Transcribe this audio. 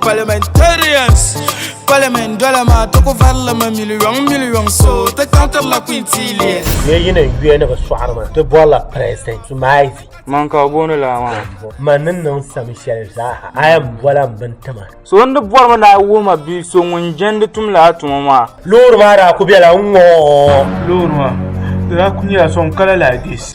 Parliamentarians Parliament dɔla maa ti ku varilimi miliyɔŋ miliyɔŋ so ti kantirila kwintiiliya. Mɛ yi ni yuya ni bi sɔɣiri ma, ti bɔrila President Zuma Izi. Man ka o booni laa maa. Man ni niŋ sami shɛli zaaha, a yɛn bɔla m bini tima. So n-di bɔrimi ni a wuhi ma bia so ŋun jɛndi tumdi a tuma maa. Loori maa daa ku bela n-ŋɔ. Loori maa, di daa ku nyɛla sɔŋ kala like this.